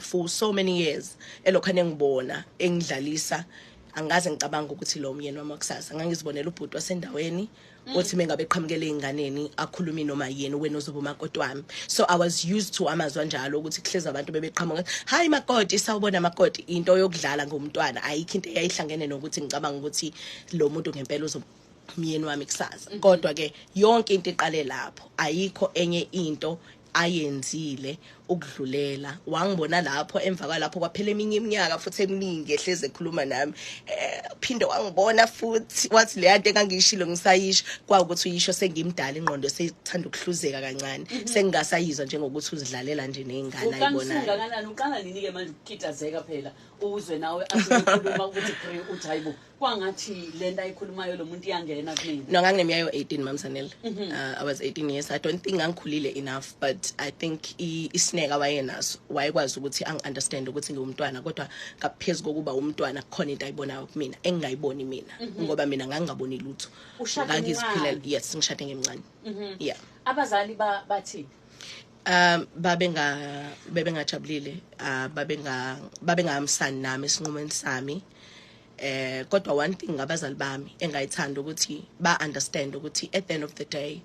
for so many years elokhane ngibona engidlalisa angikaze ngicabanga ukuthi lo myeni wami wakusasa ngangizibonela ubhuti wasendaweni mm. othi mengabe eqhamukela ezinganeni akhulumi noma yini wena ozoba umakoti wami so i was used to amazwi anjalo ukuthi kuhleza abantu bebeqhamuka hayi makoti sawubona makoti into yokudlala ngomntwana ayikho into eyayihlangene nokuthi ngicabanga ukuthi lo muntu ngempela uzoba umyeni wami kusasa mm-hmm. kodwa ke yonke into iqale lapho ayikho enye into ayenzile ukudlulela wangibona lapho emva kwalapho kwaphela eminye iminyaka futhi eminingi ehleze ekhuluma nami eh, phinde wangibona futhi wathi leya nto engangiyishilo ngisayisho kwawukuthi uyisho sengimdala ingqondo sethanda ukuhluzeka kancane mhm. sengingasayizwa njengokuthi uzidlalela nje nezingane ayibonayo uqala nini-ke manje ukukitazeka phela uzwe nawe akhuluma ukuthi uthi hayibo kwangathi lento ayikhulumayo lo muntu iyangena kumina no nganginemiya yo-18 mamsanel mm -hmm. uh, i was 18 years i don't think ngangikhulile enough but i think isineka wayenaso wayekwazi ukuthi angi-understand ukuthi ngiwumntwana kodwa ngaphezu kokuba umntwana kukhona into ayibonayo kumina engingayiboni mina mm -hmm. ngoba mina ngangingaboni lutho ngangiziphilela yes ngishade ngemncane mm -hmm. yeah abazali bathini ba um babenga bebengajabulile uh, babenga babengahamsani nami esinqumeni sami eh kodwa one thing ngabazali bami engayithanda ukuthi ba understand ukuthi at the end of the day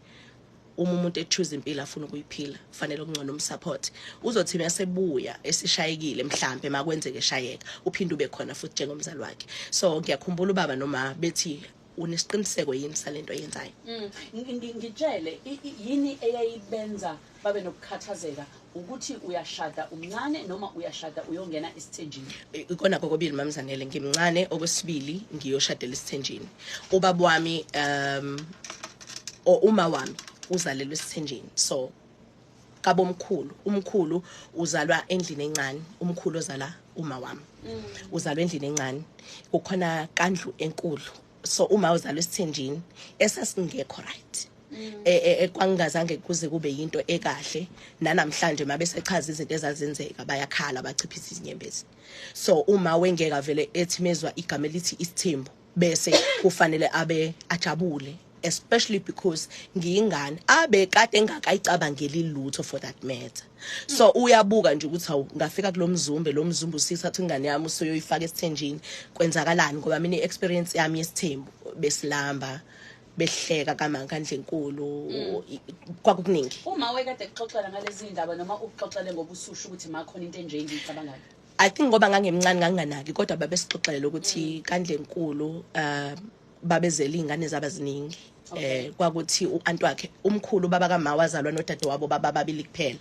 uma umuntu echoose impilo afuna ukuyiphila kufanele ukungcono umsupport uzothi masebuya esishayekile mhlambe makwenzeke shayeka uphinde ube khona futhi njengomzali wakhe so ngiyakhumbula ubaba noma bethi unesiqiniseko yini salento oyenzayo mm. ngitshele yini eyayibenza babe nokukhathazeka ukuthi uyashada umncane noma uyashada uyongena isithenjini ikona kokobili mamzanele ngimncane okwesibili ngiyoshadela isithenjini ubaba wami um uma wami uzalelwe esithenjini so kabomkhulu umkhulu uzalwa endlini encane umkhulu ozala uma wami mm. uzalwa endlini encane kukhona kandlu enkulu so uma uzalwa esithenjini esasingekho right mm. e, e, e, kwangingazange kuze kube yinto ekahle nanamhlanje uma besechaza izinto ezazenzeka bayakhala bachiphisa izinyembezi so uma wengeka vele ethi mezwa igama elithi isithembu bese kufanele abe ajabule especially because ngiyingane abe kade engakayicabangeli lutho for that matter so uyabuka nje ukuthi hawu ngafika kulomzumbe lomzumbe usithatha ingane yami usoyoyifaka esithenjini kwenzakalani ngoba mina iexperience yami yesithembu besilamba behleka kamanga ndlenkulu mm. kwakukuningi uma wekade kuxoxela ngalezi ndaba noma ukuxoxele ngobusushu ukuthi makhona into enje engiyicabangayo I think ngoba ngangimncane nganginganaki kodwa babesixoxela ukuthi kandlenkulu uh babezela izingane zaba ziningi eh kwakuthi uanti wakhe umkhulu baba kama wazalwa nodade wabo baba babili kuphela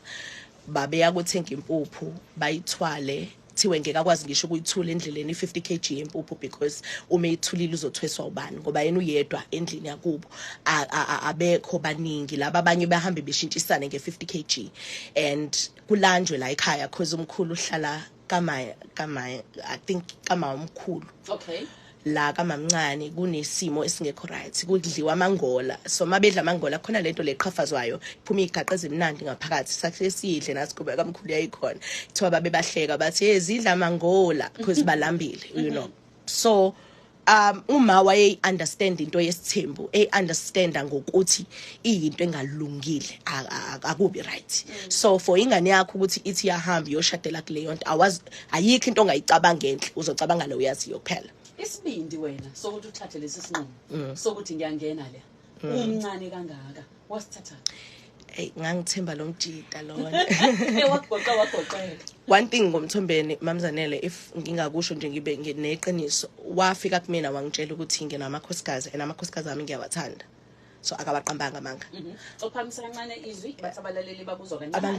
babeya kuthenga impuphu bayithwale kuthiwe ngeke akwazi ngisho ukuyithula endleleni i-50 kg yempuphu because uma ithulile uzothweswa ubani ngoba yena uyedwa endlini yakubo abekho baningi laba abanye bahambe beshintshisane nge-50 kg and kulanjwe la ekhaya cause umkhulu uhlala kama kama i think kama umkhulu okay la kamamncane kunesimo esingekho right kudliwa amangola so mabedla amangola khona lento leqhafazwayo iphuma igaqa ezimnandi ngaphakathi sakhe sidle nasikube kamkhulu yayikhona kuthiwa babe bahleka bathi ezidla amangola because balambile you know so um uma wayeyi understand into yesithembu ey understanda ngokuthi iyinto engalungile akubi right so for ingane yakho ukuthi ithi yahamba yoshadela kuleyo nto awazi ayikho into ongayicabanga enhle uzocabanga le uyaziyo kuphela isibindi wena sokuthi uthathe lesi sinqumo mm. sokuthi ngiyangena le mm. umncane kangaka wasithatha hey ngangithemba lo mjita lona wagoqa wagoqela one thing ngomthombeni mamzanele if ngingakusho nje ngibe neqiniso wafika kumina wangitshela ukuthi nginamakhosikazi and amakhosikazi ami ngiyawathanda so akabaqambanga amanga mhm. ophamisa kancane izwi bathi abalaleli babuzwa kancane